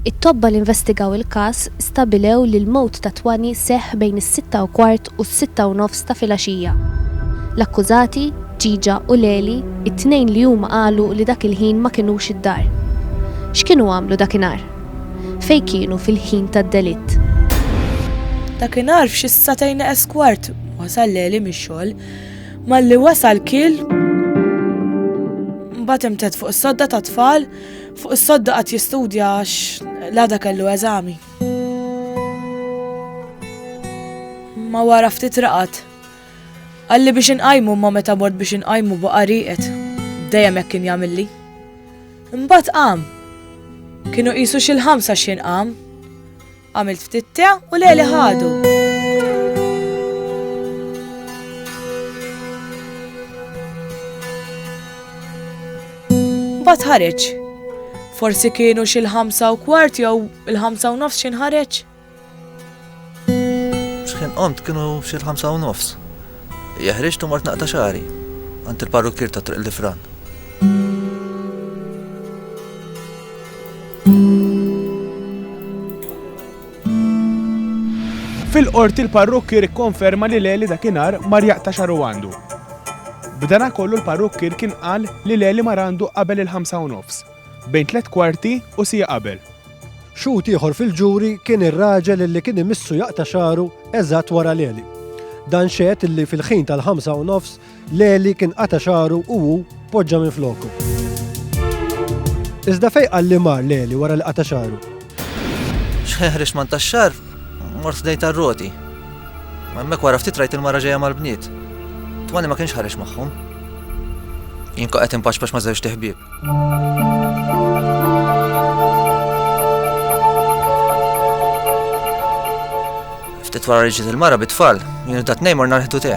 It-tobba li investigaw il-każ stabilew li l-mewt ta' Twani seħħ bejn is-sitta u kwart u s-sitta u nofs ta' filgħaxija. L-akkużati, Ġiġa u Leli, it-tnejn li huma qalu li dak il-ħin ma kinux id-dar. X'kienu għamlu dakinhar? Fejn kienu fil-ħin tad-delitt? Dakinhar f'xi ssatejn eż kwart wasal Leli mix-xogħol. Malli wasal kil mbagħad imtet fuq is-sodda ta' tfal, fuq is-sodda qatt jistudja għax l-għada kellu eżami. Ma wara ftit raqat. Għalli biex inqajmu ma meta mort biex inqajmu baqa' riqet. Dejjem hekk kien jagħmilli. Imbagħad qam. Kienu qisu xi l-ħamsa x'jien qam. Għamilt ftit te u leli ħadu. Bat ħareġ. Forsi kienu xil ħamsa u kwart jew il-ħamsa u nofs xin ħareġ. Xħin qomt kienu xil ħamsa u nofs. Jahriġ tu mort naqta xari. Għant il-parrukkir ta' triq l-ifran. Fil-Qorti l-parrukkier ikkonferma li Leli dakinhar mar jaqta' xagħru għandu. B'danakollu l-parrukkier kien qal li Leli mar għandu qabel il-ħamsa u nofs, bejn tliet kwarti u siegħa qabel. Xhud ieħor fil-ġuri kien ir-raġel illi kien imissu jaqta' xagħru eżatt wara Leli. Dan xehed illi fil-ħin tal-ħamsa u nofs Leli kien qata' xagħru u hu poġġa minn floku. Iżda fejn qal li mar Leli wara li qata' xagħru? X'ħeħrex man tax-xar, mort dejt ar-roti. Hemmhekk wara ftit rajt il-mara ġejja mal-bniet. Twani ma kienx ħareġ magħhom. Jien qed impaċpax ma' żewġ tiħbieb. Ftit wara reġiet il-mara bit-tfal, jien u tat-tnejn morna rħitu te.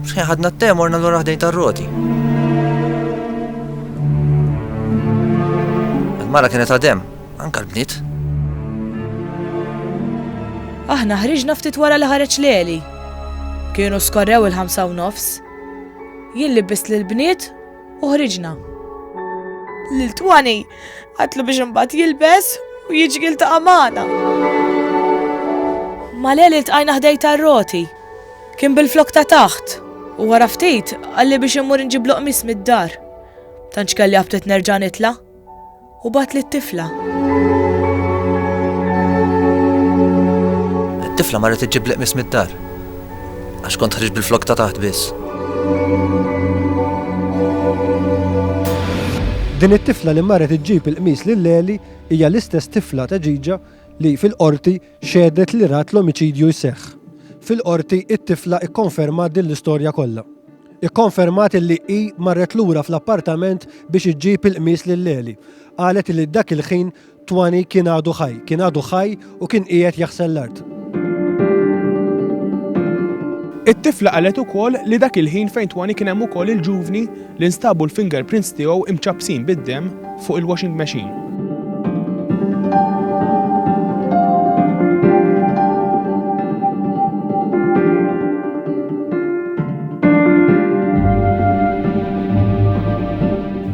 Xħin ħadna t-te morna l-ura ħdejn tar-roti. Il-mara kienet għadem, Anke l-bniet. Aħna ħriġna ftit wara li ħareġ Leli. Kienu skorrew il-ħamsa u nofs. Jien libbist lill-bniet u ħriġna. Lil Twani għatlu biex imbagħad jilbes u jiġgil ta' amana. Ma leli tqajna ħdej tar-roti. Kien bil-flok ta' taħt. U wara ftit, għalli biex immur nġib loqmis mid-dar. Tanċ kelli għabtet nerġa' nitla'. u bagħat lit-tifla. It-tifla marret iġġib l-qmis mid-dar għax kont ħriġ bil-flok ta' taħt biss. Din it-tifla li marret iġġib il-qmis lil Leli hija l-istess tifla ta' ġiġa li fil-qorti xedet li rat l-omiċidju jseħħ. Fil-qorti it-tifla ikkonferma din l-istorja kollha. Ikkonfermat li hi marret lura fl-appartament biex iġġib il-qmis lil Leli. Qalet li dak il-ħin Twani kien għadu ħaj, kien għadu ħaj u kien qiegħed jaħsel l-art. It-tifla qalet ukoll li dak il-ħin fejn Twani kien hemm ukoll il-ġuvni li nstabu l-fingerprints tiegħu imċappsin bid-demm Fuq il-washing machine.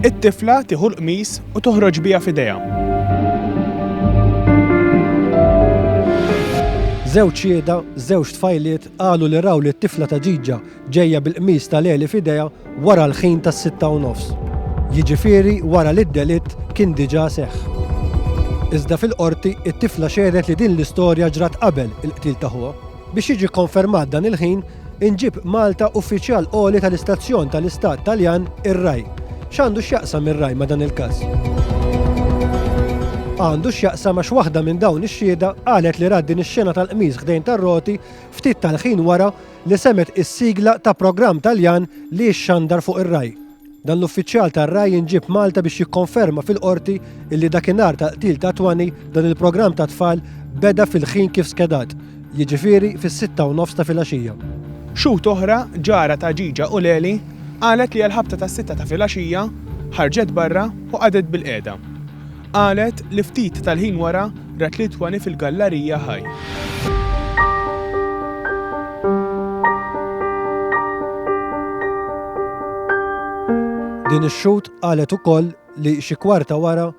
It-tifla tieħu l-qmis u toħroġ biha f'idejha. Żewġ xiehda, żewġ tfajliet qalu li raw lit-tifla ta' Ġiġa Ġejja bil-qmis ta' Leli f'idejha wara l-ħin tas-sitta u nofs. Jiġifieri wara li d-delitt kien diġà seħħ. Iżda fil-Qorti it-tifla xehdet li din l-istorja ġrat qabel il-qtil ta' ħuha. Biex jiġi kkonfermat dan il-ħin, inġieb Malta uffiċjal għoli tal-istazzjon tal-Istat Taljan ir-Rai. X'għandu x'jaqsam ir-Rai ma' dan il-każ? Għandu x'jaqsam għax waħda minn dawn ix-xhieda qalet li rat din ix-xena tal-qmis ħdejn tar-roti ftit tal-ħin wara li semgħet is-sigla ta' programm Taljan li jixxandar fuq ir-Rai. Dan l-uffiċjal tar-Rai jinġieb Malta biex jikkonferma fil-Qorti illi dakinhar tal-qtil ta' Twani dan il-programm ta' tfal beda fil-ħin kif skedat, jiġifieri fis-sitta u nofs ta' filgħaxija. Xhud oħra, ġara ta' Ghigia Uleli, qalet li għall-ħabta tas-sitta ta' filgħaxija, ħarġet barra u qagħdet bilqiegħda. Qalet li ftit tal-ħin wara rat lil Twani fil-gallarija ħaj. Din ix-xhud qalet ukoll li xi kwarta wara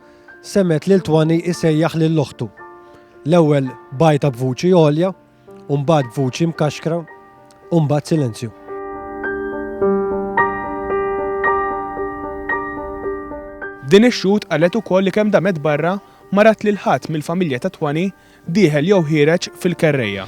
semgħet lil Twani jsejjaħ lil oħtu. L-ewwel bajta b'vuċi għolja u mbagħad b'vuċi mkaxkra u mbagħad silenzju. Din ix-xhud qalet ukoll li kemm damet barra ma rat lil ħadd mill-familja ta' Twani dieħel jew ħiereġ fil-kerrejja.